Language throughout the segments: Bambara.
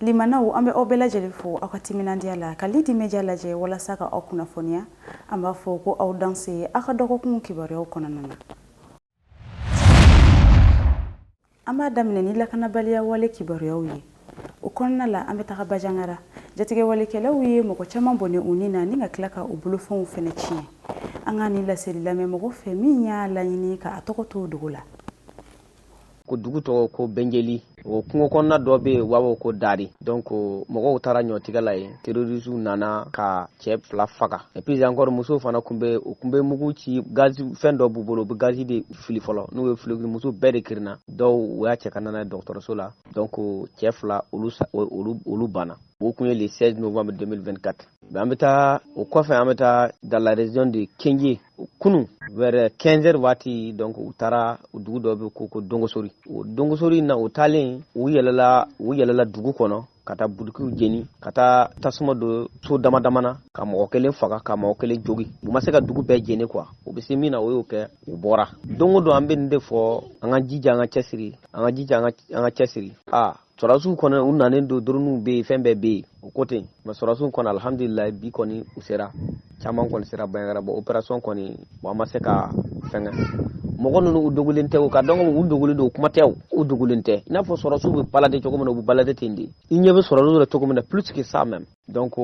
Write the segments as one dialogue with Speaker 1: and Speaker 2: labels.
Speaker 1: Limanaw an bɛ aw bɛɛ lajɛlen fo aw ka timinandiya la ka Lidi Media lajɛ walasa ka aw kunnafoniya an b'a fɔ ko aw danse aw ka dɔgɔkun kibaruyaw kɔnɔna na. an b'a daminɛ ni lakanabaliya wale kibaruyaw ye o kɔnɔna la an bɛ taga bajangara jatigɛwalekɛlaw ye mɔgɔ caman bɔnɛ u ni na ni ka tila ka u bolofɛnw fɛnɛ tiɲɛ an ka nin laseli lamɛn mɔgɔ fɛ min y'a laɲini ka a tɔgɔ to dogo la
Speaker 2: ko dugu tɔgɔ ko bɛnjeli o kungo kɔnɔna dɔ bɛ yen u b'a fɔ ko dari donc mɔgɔw taara ɲɔtigɛ la yen terorisiw nana ka cɛ fila faga et puis encore musow fana tun bɛ u tun bɛ mugu ci gazi fɛn dɔ b'u bolo u bɛ gazi de fili fɔlɔ n'u y'o fili musow bɛɛ de kirinna dɔw u y'a cɛ ka na n'a ye dɔgɔtɔrɔso la donc cɛ fila olu olu olu banna o tun ye le 16 novembre 2024 an bɛ taa o kɔfɛ an bɛ taa dans la région de Kenje kunu vers 15h waati donc u taara dugu dɔ bɛ ko ko dongosori o dongosori na u taalen u yɛlɛla u yɛlɛla dugu kɔnɔ ka taa butikiw jeni ka taa tasuma don so dama dama na ka mɔgɔ kelen faga ka mɔgɔ kelen jogin u ma se ka dugu bɛɛ jeni quoi u bɛ se min na u y'o kɛ u bɔra don o don an bɛ nin de fɔ an ka jija an ka cɛsiri an ka jija an ka cɛsiri aa sɔrɔdasiw kɔni u nanen don doronuw bɛ yen fɛn bɛɛ bɛ yen o ko ten mais sɔrɔdasiw kɔni alihamdulilayi bi kɔni u sera caman kɔni sera bajangara bon opération kɔni bon an ma se ka fɛngɛ mɔgɔ ninnu u dogolen tɛ k'a dɔn ko u dogolen don o kuma tɛ u dogolen tɛ i n'a fɔ sɔrɔdasiw bɛ balade cogo min na u bɛ balade ten de i ɲɛ bɛ sɔrɔdasiw la cogo min na plus que ça même donc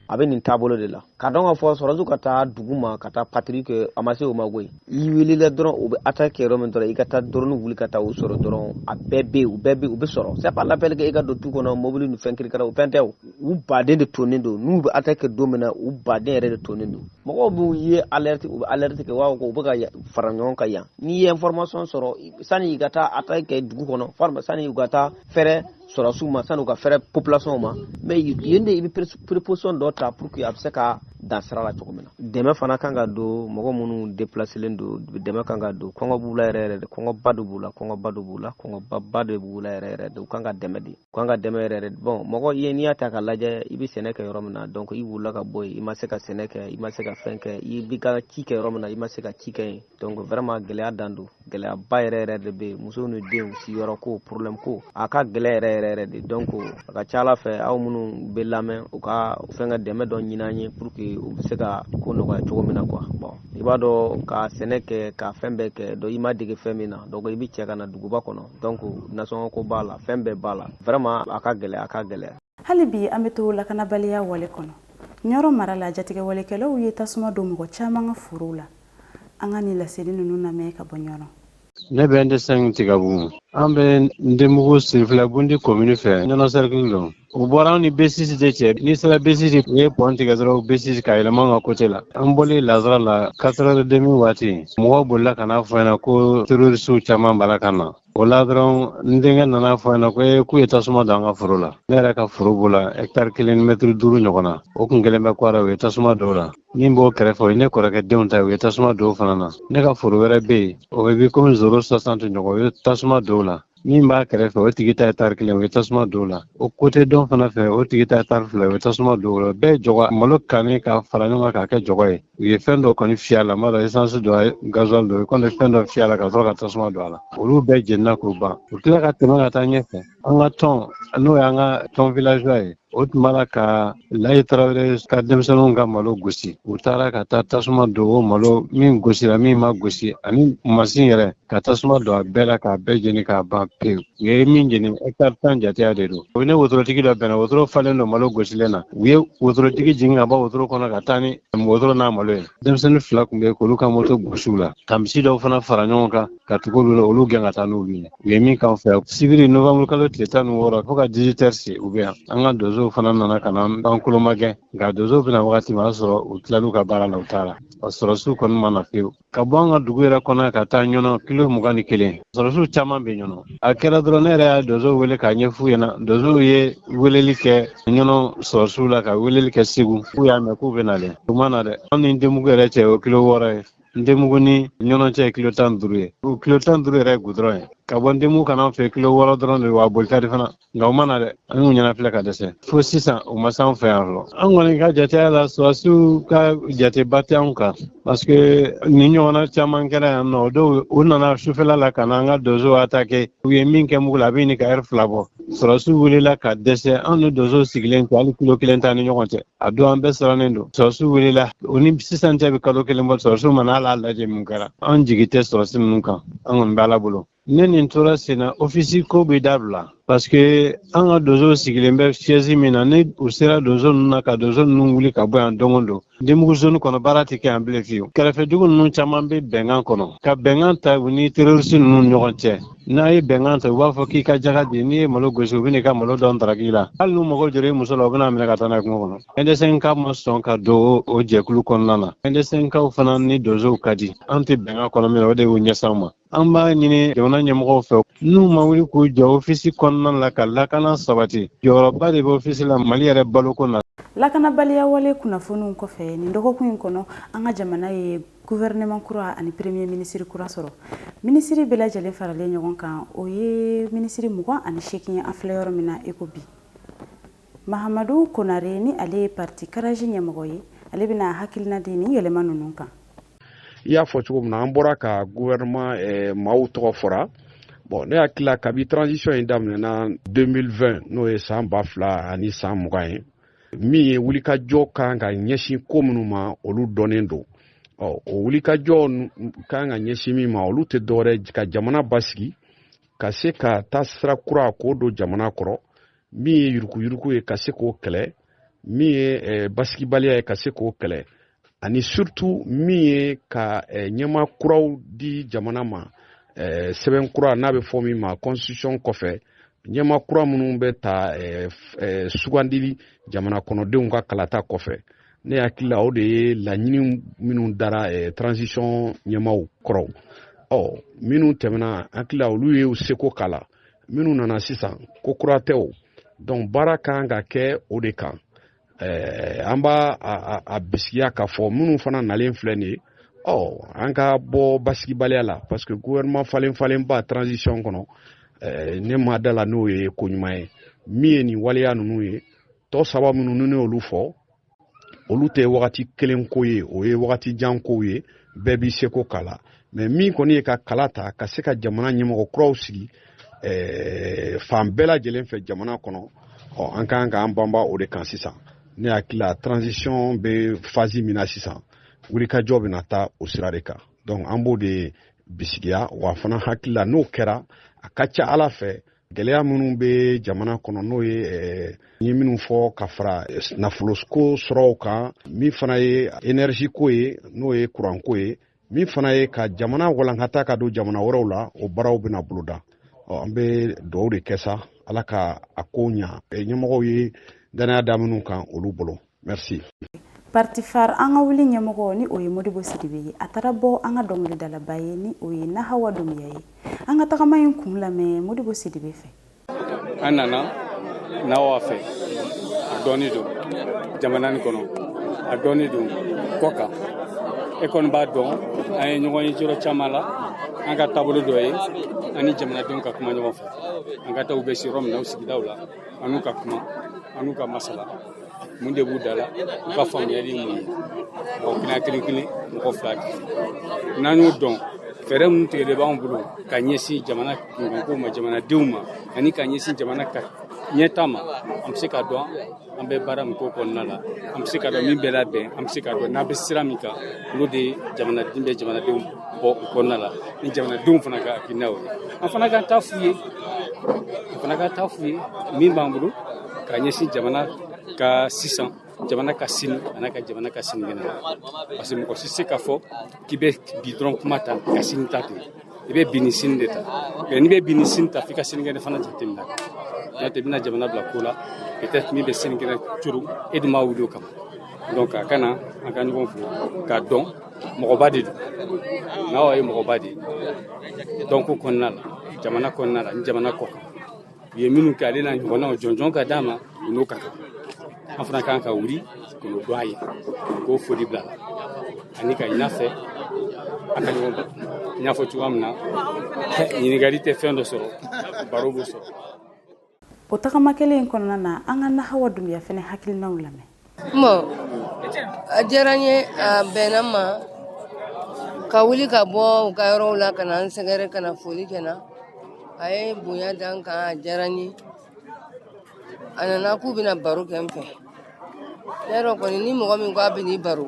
Speaker 2: a bɛ nin taabolo de la k'a dɔn k'a fɔ sɔrɔdasiw ka taa dugu ma ka taa patrouille kɛ a ma se o ma koyi i wulila dɔrɔn u bɛ attaque kɛ yɔrɔ min dɔrɔn i ka taa dɔrɔni wuli ka taa u sɔrɔ dɔrɔn a bɛɛ bɛ yen u bɛɛ bɛ u bɛ sɔrɔ c'est pas la peine que i ka don tu kɔnɔ mobili ni fɛn kirikara o fɛn tɛ o u baden de tonnen don n'u bɛ attaque kɛ don min na u baden yɛrɛ de tonnen don mɔgɔw b'u ye alerte u bɛ alerte kɛ wa ko u bɛ ka fara ɲɔgɔn kan yan n'i ye information sɔrɔ sani i ka taa attaque kɛ dugu kɔnɔ sani u ka taa fɛrɛ sɔrɔdasiw ma san'u ka fɛrɛ population ma mais yen de i bɛ préposition dɔ ta pour que a bɛ se ka dan sira la cogo min na dɛmɛ fana kan ka don mɔgɔ minnu déplacelen don dɛmɛ kan ka don kɔngɔ b'u la yɛrɛ yɛrɛ de kɔngɔba de b'u la kɔngɔba de b'u la kɔngɔbaba de b'u la yɛrɛ yɛrɛ de u kan ka dɛmɛ de u kan ka dɛmɛ yɛrɛ yɛrɛ de bon mɔgɔ ye n'i y'a ta ka lajɛ i bɛ sɛnɛ kɛ yɔrɔ min na donc i wulila ka bɔ yen i ma se ka sɛnɛ kɛ i ma se ka fɛn kɛ i b'i ka ci kɛ yɔrɔ min na i ma se ka ci kɛ yen donc vraiment gɛlɛya dan don gɛlɛyaba yɛrɛ yɛrɛ de bɛ yen musow ni denw siyɔrɔ ko problème ko a ka gɛlɛ yɛrɛ yɛrɛ yɛrɛ de donc a ka ca ala fɛ aw minnu bɛ lamɛn u ka fɛn ka dɛmɛ dɔ ɲini an ye pour que u bɛ se ka ko nɔgɔya cogo min na quoi bon i b'a dɔn ka sɛnɛ kɛ ka fɛn bɛɛ kɛ donc i ma dege fɛn min na donc i bɛ cɛ ka na duguba kɔnɔ donc nasɔngɔ ko b'a la fɛn bɛɛ b'a la vraiment a ka gɛlɛ a ka gɛlɛ hali bi an bɛ
Speaker 1: to lakanabaliya wale kɔnɔ ɲɔrɔ mara la jatigɛwalekɛlaw ye tasuma don mɔgɔ caman ka forow la an ka nin laseli ninnu lamɛn ka bɔ ɲɔrɔ ne bɛ n
Speaker 3: de sɛnki tigabugu an bɛ n denmugu sirifila bundi komini fɛ ɲɔnɔ sɛrikili don u bɔra anw ni besisi de cɛ n'i sera besisi u ye pɔn tigɛ dɔrɔn besisi ka yɛlɛma an ka kote la an bɔlen lansara la quatre heures et demie waati mɔgɔw bolila ka n'a fɔ an ɲɛna ko terorisiw caman b'a la ka na o la dɔrɔn n denkɛ nana a fɔ n ɲɛna ko ee k'u ye tasuma don an ka foro la ne yɛrɛ ka foro b'o la hɛkitari kelen mɛtiri duuru ɲɔgɔnna o kun kelen bɛ kwara u ye tasuma don o la min b'o kɛrɛfɛ o ye ne kɔrɔkɛ denw ta ye u ye tasuma don o fana na ne ka foro wɛrɛ bɛ yen o bɛ bi komi zoro sɔsanti ɲɔgɔn u ye tasuma don o la min b'a kɛrɛfɛ o tigi ta hɛkitari kelen u ye tasuma don o la o kote dɔ in fana fɛ o tigi ta hɛkitari fila u ye tasuma don o la bɛɛ jɔgɔ malo kannen ka fara ɲɔgɔn kan k'a kɛ jɔgɔ ye u ye fɛn dɔ kɔni fiyɛ a la n m'a dɔn esansi don gazuwali don u kɔni ye fɛn dɔ fiyɛ a la ka sɔrɔ ka tasuma don a la olu bɛɛ jenina k'o ban u tila ka tɛmɛ ka taa ɲɛfɛ an ka tɔn n'o y'an ka tɔn villageois ye o tun b'a la ka layi tarawele ka denmisɛnninw ka malo gosi u taara ka taa tasuma don o malo min gosira min ma gosi ani masin yɛrɛ ka tasuma don a bɛɛ la k'a bɛɛ jeni k'a ban pewu u ye min jeni hectare tan jateya de don u ni wotorotigi dɔ bɛnna wotoro falen don malo gosilen na u ye wotorotigi jigin ka bɔ wotoro kɔnɔ ka taa ni wotoro n'a malo ye denmisɛnnin fila kunbɛn k'olu ka moto gosi u la ka misi dɔw fana fara ɲɔgɔn kan ka tugu olu la olu gɛn ka taa n'olu ye u ye min k'an fɛ sibiri novembre kalo tile tan ni wɔɔrɔ fo ka 18 heures se u bɛ yan an ka donsow fana nana ka na an kolomagɛn nka donsow bɛ na wagati min a sɔrɔ u tilal'u ka baara la u taara sɔrɔsiw kɔni ma na pewu ka bɔ an ka dugu yɛrɛ kɔnɔ ka taa ɲɔnɔ kilo mugan ni kelen sɔrɔsiw caman bɛ ɲɔnɔ a kɛra dɔrɔn ne yɛrɛ y'a donsow wele k'a ɲɛfɔ u ɲɛna donsow ye weleli kɛ ɲɔnɔ sɔrɔsiw la ka weleli kɛ segu k'u y'a mɛn k'u bɛ nalen u ma na dɛ an ni denmugu yɛrɛ cɛ o kilo wɔɔrɔ ye denmugu ni ɲɔnɔ cɛ ye kilo tan duuru ye o kilo tan duuru yɛrɛ ye gudɔrɔn ye ka bɔ denmugu ka na an fɛ kilo wɔɔrɔ dɔrɔn de wa a boli ka di fana nka u ma na dɛ an y'u ɲɛnafilɛ ka dɛsɛ fo sisan u ma s'an fɛ yan fɔlɔ an kɔni ka jateya la sɔrɔsiw ka jateba tɛ anw kan parce que nin ɲɔgɔnna caman kɛra yan don dɔ u nana sufɛla la ka na an ka donsow atake u ye min kɛ mugu la a bɛ ɲini ka ɛri fila bɔ sɔrɔsiw welela ka dɛsɛ anw ni donsow sigilen to hali kilo kelen t'an ni ɲɔgɔn cɛ a don an bɛɛ sirannen don sɔrɔsiw welela o ni sisan cɛ bɛ kalo kelen bɔ sɔrɔsiw ma na hali a lajɛ mun kɛra an jigi tɛ sɔrɔsi ninnu kan an kɔni bɛ ala bolo ni nin tora sen na ofisi ko bɛ dabila parce que an ka donso sigilen bɛ siège min na ni u sera donso ninnu na ka donso ninnu wuli ka bɔ yan donc o don ndebugu zone kɔnɔ baara tɛ kɛ yan bilen fiyewu kɛrɛfɛdugu ninnu caman bɛ bɛnkan kɔnɔ ka bɛnkan ta u ni terroriste ninnu ɲɔgɔn cɛ n'a ye bɛnkan ta u b'a fɔ k'i ka jaga di n'i ye malo gosi u bɛ n'i ka malo dɔn daraki la hali n'u mago jɔra i muso la u bɛn'a minɛ ka taa n'a ye kungo kɔnɔ ɛndɛsɛnka ma sɔn ka don o jɛkulu kɔnɔna na ɛndɛsɛnkaw fana ni donsow ka di an tɛ bɛnkan kɔnɔ min na o de y'u ɲɛsin an ma an b'a ɲini jamana ɲɛmɔgɔw fɛ n'u ma wuli k'u jɔ ofisi kɔnɔna la ka lakana sabati jɔyɔrɔba de bɛ ofisi la mali yɛrɛ baloko na lakanabaliya
Speaker 1: wale kunnafoniw kɔfɛ nin dɔgɔkun in kɔnɔ an ka jamana ye gouvernement kura ani premier ministre kura sɔrɔ ministre bɛɛ lajɛlen faralen ɲɔgɔn kan o ye ministre mugan ani seegin ye an filɛ yɔrɔ min na i ko bi mahamadu konare ni ale ye parti karaji ɲɛmɔgɔ ye ale bɛna hakilina di nin yɛlɛma ninnu kan i y'a
Speaker 4: fɔ cogo min na an bɔra ka gouvernement eh, maaw tɔgɔ fɔra bon ne hakili la kabi transition in daminɛna 2020 n'o ye saan ba fila ani saan mugan ye min ye wulikajɔ kan ka ɲɛsin ko minnu ma olu dɔnnen don ɔ o wulikajɔ kan ka ɲɛsin min ma olu tɛ dɔwɛrɛ ka jamana basigi ka se ka taasira kura k'o don jamana kɔrɔ min ye yurukuyuruku ye ka se k'o kɛlɛ min ye eh, basigibaliya ye ka se k'o kɛlɛ ani surtout min ye ka eh, ɲɛmaa kuraw di jamana ma eh, sɛbɛn kura n'a bɛ fɔ min ma constitution kɔfɛ ɲɛmaa kura minnu bɛ ta sugandili jamana kɔnɔdenw ka kalata kɔfɛ ne hakili la o de ye laɲini minnu dara transition ɲɛmaaw kɔrɔ ɔ minnu tɛmɛna hakili la olu ye u seko k'a la minnu nana sisan ko kura tɛ o donc baara kan ka kɛ o de kan eh, an b'a a bisigiya k'a fɔ minnu fana nalen filɛ nin ye ɔ an ka bɔ basigibaliya la parce que gouvernement falenfalenba transition kɔnɔ eh, ne ma d'a la n'o ye ko ɲuman ye min ye nin waleya ninnu ye tɔ saba minnu ni ne y'olu fɔ olu tɛ wagati kelen ko ye o ye wagati jan kow ye bɛɛ b'i seko k'a la mais min kɔni ye ka kala ta ka se ka jamana ɲɛmɔgɔ kuraw sigi eh, fan bɛɛ lajɛlen fɛ jamana kɔnɔ ɔ an ka kan k'an banba o de kan sisan ne hakili la transition bɛ phase min na sisan wulikajɔ bɛna taa o sira de kan donc an b'o de bisigiya wa fana hakili la n'o kɛra a ka ca a la fɛ gɛlɛya minnu bɛ jamana kɔnɔ n'o ye eh, n ye minnu fɔ ka fara eh, nafoloko sɔrɔw kan min fana ye énergie ko ye n'o ye kuranko ye min fana ye ka jamana walankata ka don jamana wɛrɛw la o baaraw bɛna boloda an bɛ dugaw de kɛ sa ala ka a kow ɲa eh, ɲɛmɔgɔw ye dannaya da minnu kan olu bolo Merci. Parti
Speaker 1: FARE an ka wuli ɲɛmɔgɔ ni o ye Modibo Sidibe ye a taara bɔ an ka dɔnkilidalaba ye ni o ye Nahawa Dumuya ye an ka tagama in kun lamɛn Modibo Sidibe fɛ an nana
Speaker 5: Nahawa fɛ a dɔnnen don jamana nin kɔnɔ a dɔnnen don kɔkan e kɔni b'a dɔn an ye ɲɔgɔn ye yɔrɔ caman la an ka taabolo dɔ ye an ni jamanadenw ka kuma ɲɔgɔn fɛ an ka taa u bɛ se yɔrɔ min na u sigidaw la an n'u ka kuma an n'u ka masala mun de b'u da la u ka faamuyali ye mun ye mɔgɔ kelen kelen kelen mɔgɔ fila n'an y'o dɔn fɛɛrɛ minnu tigɛlen b'an bolo ka ɲɛsin jamana kunkanko ma jamanadenw ma ani ka ɲɛsin jamana ka ɲɛtaa ma an bɛ se k'a dɔn an bɛ baara min k'o kɔnɔna la an bɛ se k'a dɔn min bɛ labɛn an bɛ se k'a dɔn n'an bɛ sira min kan olu de jamanaden bɛ jamanadenw bɔ o kɔnɔna la ni jamanadenw fana ka hakilinaw ye an fana ka taa f'u ye an fana ka taa f'u ye min b'an bolo ka ɲɛsin jamana ka sisan jamana ka sini an'a ka jamana ka sinikɛnɛ ma parce que mɔgɔ tɛ se k'a fɔ k'i bɛ bi dɔrɔn kuma ta ka sini ta to i bɛ bi ni sini de ta n'i bɛ bi ni sini ta f'i ka sinikɛnɛ fana jateminɛ n'o tɛ i bɛna jamana bila ko la peut-être min bɛ sinikɛnɛ coron e dun ma wuli o kama donc a kan an ka ɲɔgɔn fo k'a dɔn mɔgɔba de don Nahawa ye mɔgɔba de ye dɔnko kɔnɔna la jamana kɔnɔna la ni jamana kɔkan u ye minnu kɛ ale n'a ɲɔgɔnnaw jɔnjɔn ka d'a ma u n'o ka kan an fana kan ka wuli k'o dɔn a ye k'o foli bil'a la ani k'a ɲin'a fɛ an ka ɲɔgɔn baro n y'a fɔ cogoya min na ɲininkali tɛ fɛn dɔ sɔrɔ baro b'o sɔrɔ
Speaker 1: o tagama kelen in kɔnɔna na an ka Nahawa Dumbiya fana hakilinaw lamɛn
Speaker 6: bon a diyara n ye a bɛnna n ma ka wuli ka bɔ u ka yɔrɔw la ka na n sɛgɛrɛ ka na foli kɛ n na a ye bonya da n kan a diyara n ye a nana k'u bɛna baro kɛ n fɛ Y'a dɔn kɔni ni mɔgɔ min ko a bɛ n'i baro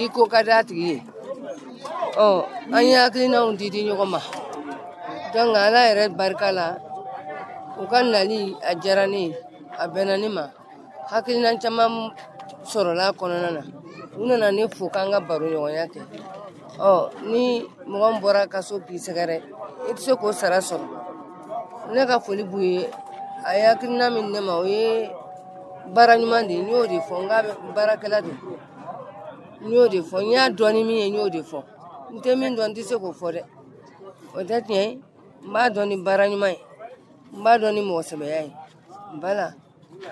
Speaker 6: i ko ka di a tigi ye ɔ an ye hakilinaw di di ɲɔgɔn ma donc Ala yɛrɛ barika la u ka nali a diyara ne ye a bɛnna ne ma hakilina caman sɔrɔla a kɔnɔna na u nana ne fo k'an ka baro ɲɔgɔnya kɛ ɔ ni mɔgɔ min bɔr'a ka so k'i sɛgɛrɛ i tɛ se k'o sara sɔrɔ ne ka foli b'u ye a ye hakilina min di ne ma o ye baara ɲuman de ye n y'o de fɔ n k'a bɛ baarakɛla don n y'o de fɔ n y'a dɔn ni min ye n y'o de fɔ n tɛ min dɔn n tɛ se k'o fɔ dɛ o tɛ tiɲɛ ye n b'a dɔn ni baara ɲuman ye n b'a dɔn ni mɔgɔsɛbɛya ye bala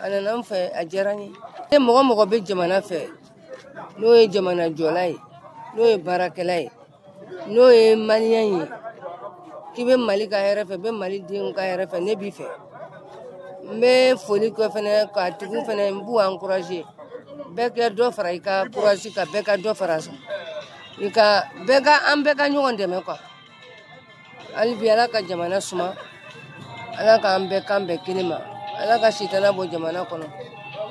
Speaker 6: a nana n fɛ a diyara n ye ni mɔgɔ o mɔgɔ bɛ jamana fɛ n'o ye jamana jɔla ye n'o ye baarakɛla ye n'o ye maliyɛn ye k'i bɛ mali ka hɛrɛ fɛ bɛ mali denw ka hɛrɛ fɛ ne b'i fɛ n bɛ foli kɛ fɛnɛ ka tugu fɛnɛ n b'u encourager bɛɛ ka dɔ fara i ka courage kan bɛɛ ka dɔ fara i ka bɛɛ ka an bɛɛ ka ɲɔgɔn dɛmɛ quoi Hali bi ala ka jamana suma ala k'an bɛɛ kan bɛn kelen ma ala ka sitana bɔ jamana kɔnɔ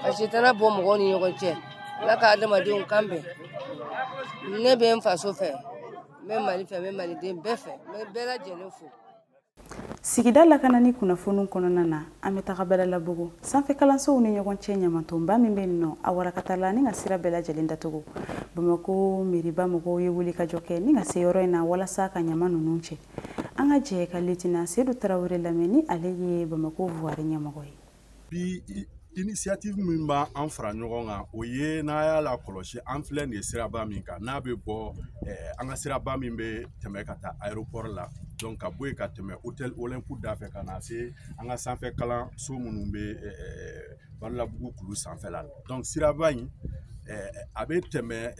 Speaker 6: ka sitana bɔ mɔgɔw ni ɲɔgɔn cɛ ala ka adamadenw kan bɛn ne bɛ n faso fɛ n bɛ mali fɛ n bɛ maliden bɛɛ fɛ n bɛ bɛɛ lajɛlen fo
Speaker 1: sigida lakanani kunnafoniw kɔnɔna na an bɛ taga badalabugu sanfɛ kalansow ni ɲɔgɔn cɛ ɲamantonba min bɛ yen nɔ a warakatala ni ka sira bɛɛ lajɛlen datugu bamakɔ mairie ba mɔgɔw ye wulikajɔ kɛ ni ka se yɔrɔ in na walasa ka ɲama ninnu cɛ an ka jɛ ka lieutenant seydou tarawele lamɛn ni ale ye bamakɔ voirie ɲɛmɔgɔ ye
Speaker 7: bi initiative min b'an fara ɲɔgɔn kan o ye n'a y'a lakɔlɔsi an filɛ nin ye siraba min kan n'a bɛ bɔ eh, an ka siraba min bɛ tɛmɛ ka taa aéroport la donc ka bɔ yen ka tɛmɛ hôtel olympique da fɛ ka na se an ka sanfɛ kalanso minnu bɛ badalabugu kulu sanfɛla la donc siraba in a bɛ tɛmɛ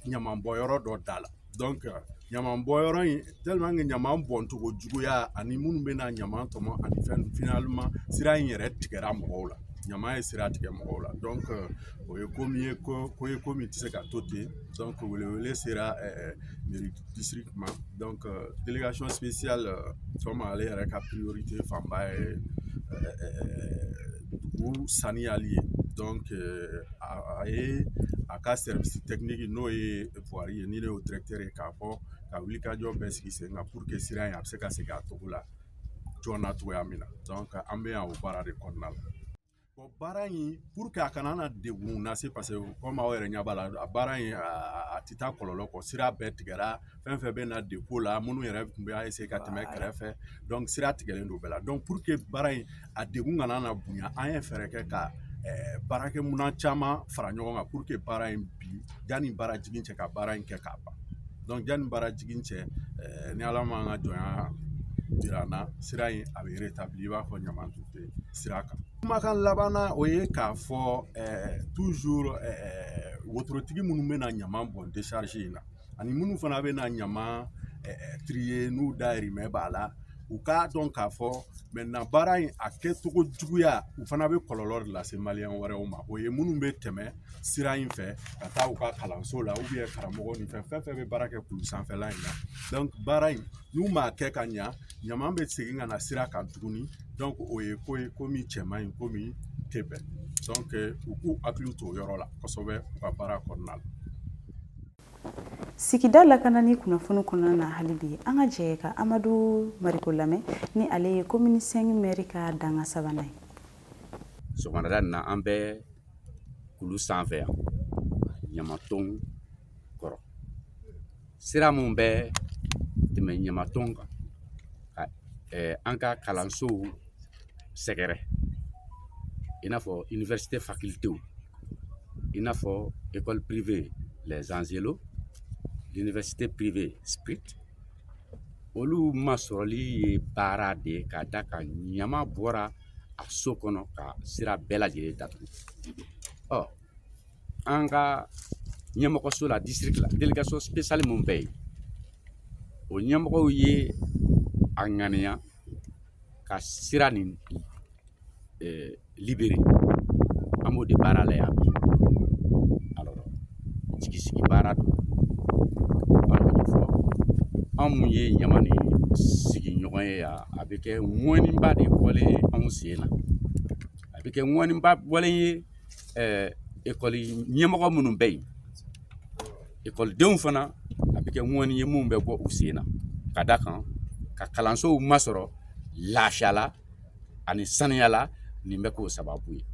Speaker 7: ɲamanbɔnyɔrɔ dɔ da la donc ɲamanbɔnyɔrɔ in tellement que ɲaman bɔncogo juguya ani minnu bɛ na ɲaman tɔmɔ ani fɛn finalement sira in yɛrɛ tigɛra mɔgɔw la ɲama ye sira tigɛ mɔgɔw la donc o ye ko min ye ko ye ko min tɛ se ka to ten donc welewele sera district ma donc délégation spéciale comme ale yɛrɛ ka priorité fanba ye dugu saniyali ye donc a ye a ka service technique n'o ye voirie ye ni ne y'o directeur ye k'a fɔ ka wulikajɔ bɛɛ sigi sen kan pour que sira in a bɛ se ka segin a cogo la joona cogoya min na donc an bɛ yan o baara de kɔnɔna la Bon baara in pour que a kana na degun lase parce que comme aw yɛrɛ ɲɛ b'a la a baara in a tɛ taa kɔlɔlɔ kɔ sira bɛɛ tigɛra fɛn fɛn bɛ na dépôt la minnu yɛrɛ tun bɛ essayer ka tɛmɛ kɛrɛfɛ donc sira tigɛlen don bɛɛ la donc pour que baara in a degun kana na bonya an ye fɛɛrɛ kɛ ka baarakɛminɛn caman fara ɲɔgɔn kan pour que baara in bi yanni baara jigin cɛ ka baara in kɛ k'a ban donc yanni baara jigin cɛ ni ala m'an ka jɔnya jira an na sira in a bɛ rétabli i b'a fɔ ɲaman tun tɛ sira kan kumakan laban na o ye k'a fɔ toujours wotorotigi minnu bɛ na ɲaman bɔn décharge in na ani minnu fana bɛ na ɲaman trier n'u dayirimɛ b'a la u k'a dɔn k'a fɔ maintenant baara in a kɛcogo juguya u fana bɛ kɔlɔlɔ de lase maliyɛn wɛrɛw ma o ye minnu bɛ tɛmɛ sira in fɛ ka taa u ka kalanso la ou bien karamɔgɔ ni fɛn fɛn bɛ baara kɛ kulu sanfɛla in na donc baara in n'u m'a kɛ ka ɲa ɲama bɛ segin ka na sira kan tuguni donc o ye ko ye ko min cɛ man ɲi ko min tɛ bɛn donc u k'u hakili to o yɔrɔ la kosɛbɛ u ka baara kɔnɔna la
Speaker 1: sigida lakanani kunnafoni kɔnɔna na hali bi an ka jɛ ka amadu mariko lamɛn ni ale ye komini sɛngi mɛri ka dankan sabanan ye
Speaker 8: sɔgɔmada na an bɛ kulu sanfɛ yan ɲamaton sira min bɛ tɛmɛ ɲamaton kan ka an ka kalansow sɛgɛrɛ i n'a fɔ université facultéw i n'a fɔ école privée les Angelots l'université privée ISPRIC olu masɔrɔli ye baara de ye ka d'a kan ɲama bɔra a so kɔnɔ ka sira bɛɛ lajɛlen datugu ɔ an ka ɲɛmɔgɔso la district la délégation spéciale min bɛ yen o ɲɛmɔgɔw ye a ŋaniya ka sira nin libéré an b'o de baara la yan bi alors jigisigi baara don anw minnu ye ɲama nin sigiɲɔgɔn ye yan a bɛ kɛ ŋɔniba de bɔlen ye anw sen na a bɛ kɛ ŋɔniba bɔlen ye ekɔli ɲɛmɔgɔ minnu bɛ yen ekɔlidenw fana a bɛ kɛ ŋɔni ye min bɛ bɔ u sen na ka d'a kan ka kalansow masɔrɔ lafiya la ani saniya la nin bɛ k'o sababu ye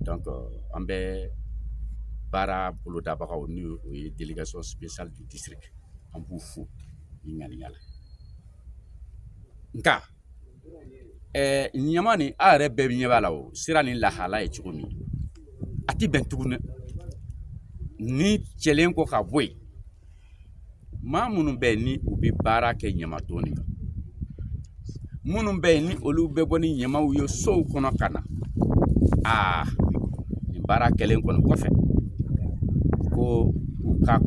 Speaker 8: donc an bɛ baara bolodabagaw n'o o ye délégation spéciale du district an b'u fo nin ŋaniya la nka ɛɛ ɲama nin a yɛrɛ bɛɛ ɲɛ b'a la o sira nin lahala ye cogo min a tɛ bɛn tuguni nin cɛlen kɔ ka bɔ yen maa minnu bɛ yen ni u bɛ baara kɛ ɲamaton nin kan minnu bɛ yen ni olu bɛ bɔ ni ɲamaw ye sow kɔnɔ ka na aa nin baara kɛlen kɔni kɔfɛ ko u ka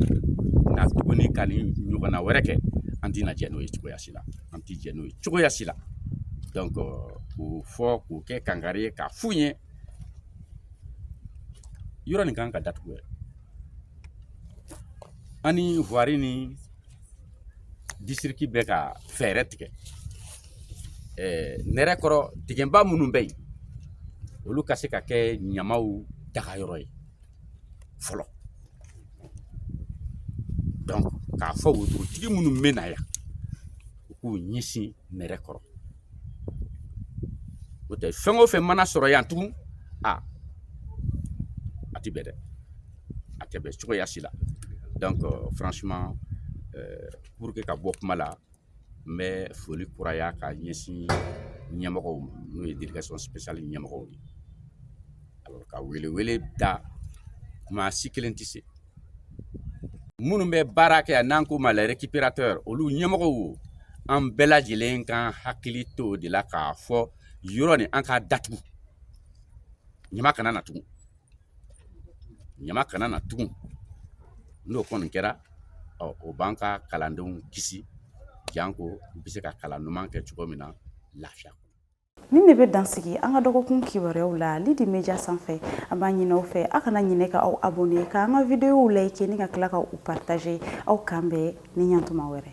Speaker 8: na tuguni ka nin ɲɔgɔnna wɛrɛ kɛ an tɛna jɛn n'o ye cogoya si la an tɛ jɛn n'o ye cogoya si la donc k'o fɔ k'o kɛ kankari ye k'a f'u ye yɔrɔ nin kan ka datugu yɛrɛ an ni voirie ni district bɛ ka fɛɛrɛ tigɛ nɛrɛ kɔrɔ dingɛba minnu bɛ yen olu ka se ka kɛ ɲamaw dagayɔrɔ ye fɔlɔ donc k'a fɔ wotorotigi minnu bɛ na yan u k'u ɲɛsin nɛrɛ kɔrɔ o tɛ fɛn o fɛn mana sɔrɔ yan tugun a a tɛ bɛn dɛ a tɛ bɛn cogoya si la donc franchement pour que ka bɔ kuma la n bɛ foli kuraya k'a ɲɛsin ɲɛmɔgɔw ma n'o ye délégation spéciale ɲɛmɔgɔw ye alors ka welewele da ko maa si kelen tɛ se minnu bɛ baara kɛ yan n'an ko ma les récupérateurs olu ɲɛmɔgɔw o an bɛɛ lajɛlen k'an hakili to o de la k'a fɔ yɔrɔ nin an k'a datugu ɲama kana na tugun ɲama kana na tugun n'o kɔni kɛra o b'an ka kalandenw kisi janko u bɛ se ka kalan ɲuman kɛ cogo min na lafiya nin
Speaker 1: de bɛ dansigi an ka dɔgɔkun kibaruyaw la lidi media sanfɛ an b'a ɲin'aw fɛ aw kana ɲinɛ ka aw abonne k'an ka videow like ni ka tila ka u partage aw k'an bɛn ni ɲantuma wɛrɛ